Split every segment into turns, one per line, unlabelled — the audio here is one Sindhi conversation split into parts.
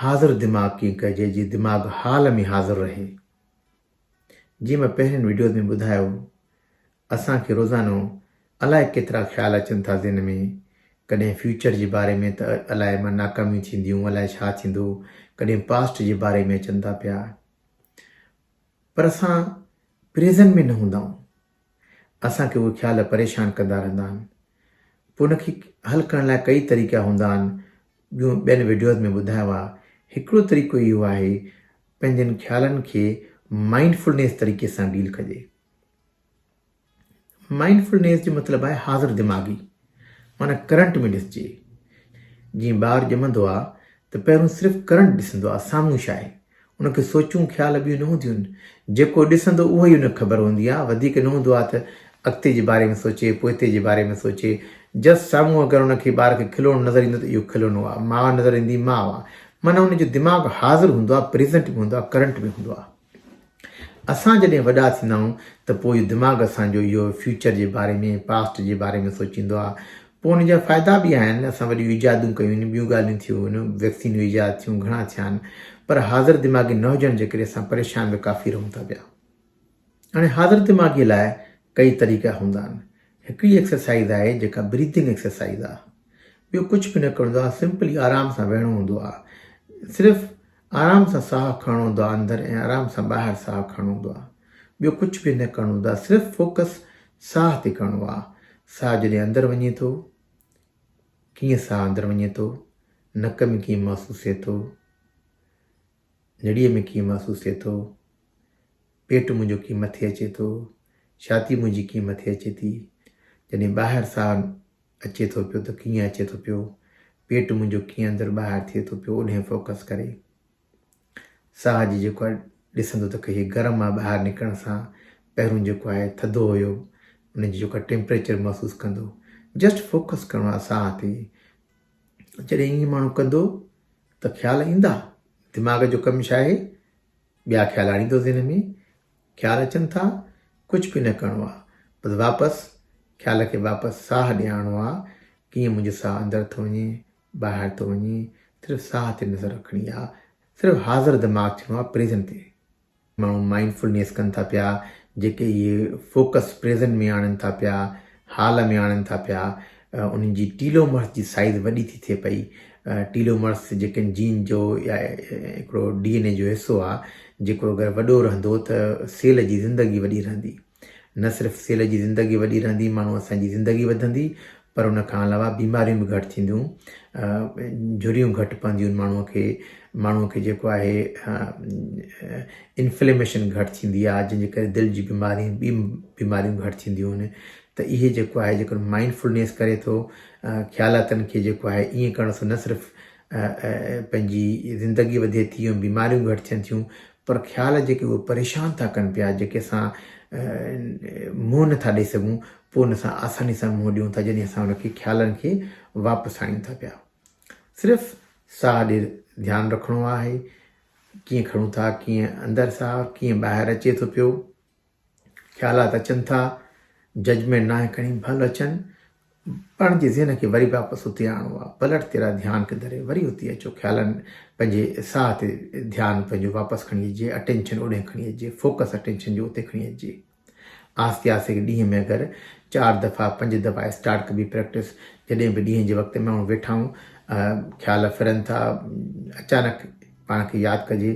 حاضر دماغ ڪيئن ڪجي جي دماغ حال ۾ حاضر رهي. جيئن مان پهرين وڊيوز ۾ ٻڌايو اسان کي روزانو الائي ڪيترا خيال اچن ٿا ذهن ۾ ڪڏهن فيوچر جي باري ۾ ته الائي مان ناڪاميون ٿينديون الائي ڇا ٿيندو ڪڏهن پاسٽ جي باري ۾ اچن ٿا پيا پر اسان پريزن ۾ نه هوندائون. اسان کي اهي خيال پريشان ڪندا رهندا آهن پوء ان کي حل ڪرڻ لاء ڪئي طريقا هوندا آهن جون ٻين وڊيوز ۾ ٻڌايو آهي هڪڙو طريقو اهو آهي پنهنجن خيالن کي مائنڊ فلنيس طريقي سان ڊيل ڪجي مائنڊ فلنيس جو مطلب آهي حاضر دماغي معنيٰ ڪرنٽ ۾ ڏسجي. جيئن ٻار ڄمندو آ ته پهرون صرف ڪرنٽ ڏسندو آ سامهون ڇا آهي. ان کي سوچون خيال ٻيون نه هونديون آهن. جيڪو ڏسندو اهو ئي ان کي خبر هوندي آ. وڌيڪ نه هوندو آ ته اڳتي جي باري ۾ سوچي، پوئتي جي باري ۾ سوچي. جس سامهون اگر ان کي ٻار کي کلوڻو نظر ايندو ته اهو کلونو آ. ماء نظر ايندي ماء آ. معنيٰ ان جو دماغ حاضر هوندو آ، پريزنٽ ۾ هوندو آ، ڪرنٽ ۾ هوندو آ. اسان جڏهن وڏا ٿيندا آهيون ته پوء دماغ اسان جو اهو فيوچر جي باري ۾ پاسٽ جي باري ۾ سوچيندو آهي پوء ان جا فائدا به آهن اسان وڏيون ايجادون ڪيون آهن ٻيون ڳالهيون ٿيون آهن ويڪسينون ايجاد ٿيون گهڻا ٿيا آهن پر حاضر دماغي نه هجڻ جي ڪري اسان پريشان به ڪافي رهون ٿا پيا هاڻي حاضر دماغي لاء ڪئي طريقا هوندا آهن هڪڙي ايڪسرسائز آهي جيڪا بريدنگ ايڪسرسائز آهي ٻيو ڪجهه به نه ڪرڻو آهي سمپلي آرام سان ويهڻو هوندو آهي صرف آرام سان ساهه کڻڻو هوندو آهي اندر ۽ آرام سان ٻاهر ساهه کڻڻو هوندو آهي ٻيو ڪجهه به نه ڪرڻو هوندو آهي صرف فوڪس ساهه تي ڪرڻو آهي ساهه جڏهن اندر وڃي ٿو ڪيئن ساهه اندر وڃي ٿو نڪ ۾ ڪيئن محسوس ٿئي ٿو نڙيء ۾ ڪيئن محسوس ٿئي ٿو پيٽ منهنجو ڪيئن مٿي اچي ٿو ڇاتي منهنجي ڪيئن مٿي اچي ٿي جڏهن ٻاهر ساهه اچي ٿو پيو ته ڪيئن اچي ٿو پيو، پيٽ منهنجو ڪيئن اندر ٻاهر ٿئي ٿو پيو اوڏهين فوڪس ڪري ساهه جي جيڪو آهي ڏسندو ته ڪهي گرم مان ٻاهر نڪرڻ سان پهرون جيڪو آهي ٿڌو هيو ان جي جيڪو ٽيمپريچر محسوس ڪندو جسٽ فوڪس ڪرڻو آهي ساهه تي جڏهن ائين ماڻهو ڪندو ته خيال ايندا دماغ جو ڪم ڇا آهي ٻيا خيال آڻيندو ذهن ۾ خيال اچن ٿا ڪجھ به نه ڪرڻو آ بس واپس خيال کي واپس ساھ ڏيارڻو آ ڪيئن منھنجو ساھ اندر ٿو وڃي ٻاهر ٿو وڃي صرف ساھ تي نظر رکڻي آ صرف حاضر دماغ ٿيڻو آ پريزنٽ تي ماڻهو مائنڊ فلنيس ڪن ٿا پيا جيڪي اهي فوڪس پريزنٽ ۾ آڻن ٿا پيا حال ۾ آڻين ٿا پيا، انهن جي ٽيلومرس جي سائيز وڏي ٿي ٿئي پئي. ٽيلومرس جيڪن جين جو يا هڪڙو ڊي اين اي جو حصو آ، جيڪو اگر وڏو رهندو ته سيل جي زندگي وڏي رهندي. نه صرف سيل جي زندگي وڏي رهندي ماڻهو اسان جي زندگي وڌندي پر ان کان علاوه بيماريون به گهٽ ٿينديون، جهريون گهٽ پونديون ماڻهوء کي، ماڻهوء کي جيڪو آهي انفليميشن گهٽ ٿيندي آهي جنهن جي ڪري دل جي بيمارين ٻي بيماريون گهٽ ٿينديون آهن ته اهي جيڪو آهي جيڪڏهن مائنڊ فلنيس ڪري ٿو خيالاتن کي جيڪو آهي ائين ڪرڻ سان نه صرف پنهنجي زندگي وڌي ٿي ۽ بيماريون گهٽ ٿين ٿيون پر خيال جيڪي اهي پريشان ٿا ڪن پيا جيڪي اسان منهن نٿا ڏيئي سگھون پوء ان سان آساني سان منهن ڏيون ٿا جڏهن اسان ان کي خيالن کي واپس آڻيون ٿا پيا صرف ساهه ڏي ڌيان رکڻو آهي ڪيئن کڻون ٿا، ڪيئن اندر ساهه، ڪيئن ٻاهر اچي ٿو پيو، خيالات اچن ٿا، ججمينٽ ناهي کڻي ڀل اچن، پاڻ جي ذهن کي وري واپس اتي آڻو آ پلٽ تيرا ڌيان کي دري وري اتي اچو خيالن پنهنجي ساهه تي ڌيان پنهنجو واپس کڻي اچجي اٽينشن اوڏي کڻي اچجي فوڪس اٽينشن جو اتي کڻي اچجي آھستي آھستي ھڪ ڏينھن ۾ اگر چار دفعا پنج دفعا اسٽارٽ ڪبي پريڪٽس جڏھن به ڏينھن جي وقت ۾ ماڻھو ويٺا ھون خيال ڦرن ٿا اچانڪ پاڻ کي ياد ڪجي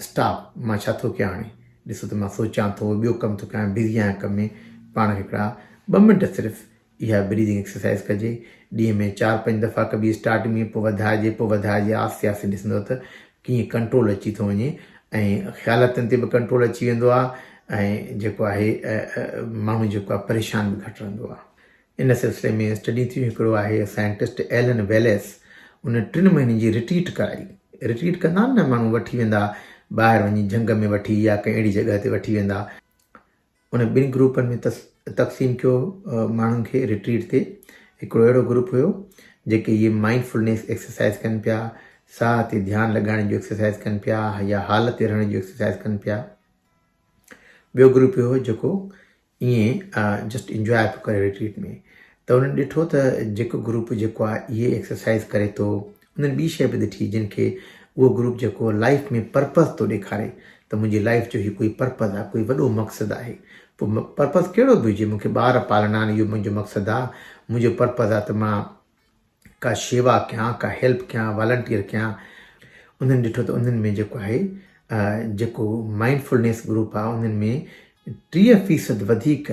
اسٽاپ مان ڇا ٿو ڪيان ھاڻي ڏسو ته مان سوچيان ٿو ٻيو ڪم ٿو ڪيان بزي آھيان ڪم ۾ پاڻ کي ھڪڙا ٻه منٽ صرف اها بريدنگ ايڪسرسائز ڪجي ڏينهن ۾ چار پنج دفعا ڪبي اسٽارٽنگ ۾ پوء وڌائجي پوء وڌائجي آهستي آهستي ڏسندو ته ڪيئن ڪنٽرول اچي ٿو وڃي ۽ خيالتن تي به ڪنٽرول اچي ويندو آهي ۽ جيڪو آهي ماڻهو جيڪو آهي پريشان به گهٽ رهندو آهي ان سلسلي ۾ اسٽڊي ٿيون هڪڙو آهي سائنٽسٽ ايلن ويليس ان ٽن مهينن جي رٽريٽ ڪرائي رٽريٽ ڪندا آهن نه ماڻهو وٺي ويندا ٻاهر وڃي جهنگ ۾ وٺي يا ڪنهن اهڙي جڳهه تي وٺي ويندا انهن ٻن گروپن ۾ تقسيم ٿيو ماڻهن کي رٽريٽ تي هڪڙو اهڙو گروپ هيو جيڪي هي مائنڊ فلنيس ايڪسرسائز ڪن پيا ساهه تي ڌيان لڳائڻ جو ايڪسرسائز ڪن پيا يا حال تي رهڻ جو ايڪسرسائز ڪن پيا ٻيو گروپ هيو جيڪو ائين جسٽ انجوائي پيو ڪري رٽريٽ ۾ ته انهن ڏٺو ته جيڪو گروپ جيڪو آهي اهي ايڪسرسائز ڪري ٿو انهن ٻي شيء به ڏٺي جنهن کي اهو گروپ جيڪو لائيف ۾ پرپز ٿو ڏيکاري ته منهنجي لائيف جو هي ڪوئي پرپز آ ڪوئي وڏو مقصد آهي پوء پرپز ڪهڙو به هجي مون کي ٻار پالڻا آهن اهو منهنجو مقصد آ منهنجو پرپز آ ته مان ڪا شيوا ڪيان ڪا هيلپ ڪيان والنٽيئر ڪيان انهن ڏٺو ته انهن ۾ جيڪو آهي جيڪو مائنڊفلنيس گروپ آ انهن ۾ ٽيهه فيصد وڌيڪ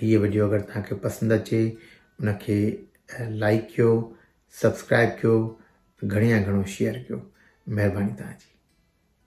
هيء وڊيو اگر توهان کي پسند اچي ان کي لائيڪ ڪيو سبسڪرائيب ڪيو گهڻي يا گهڻو شيئر ڪيو مهرباني توهان جي.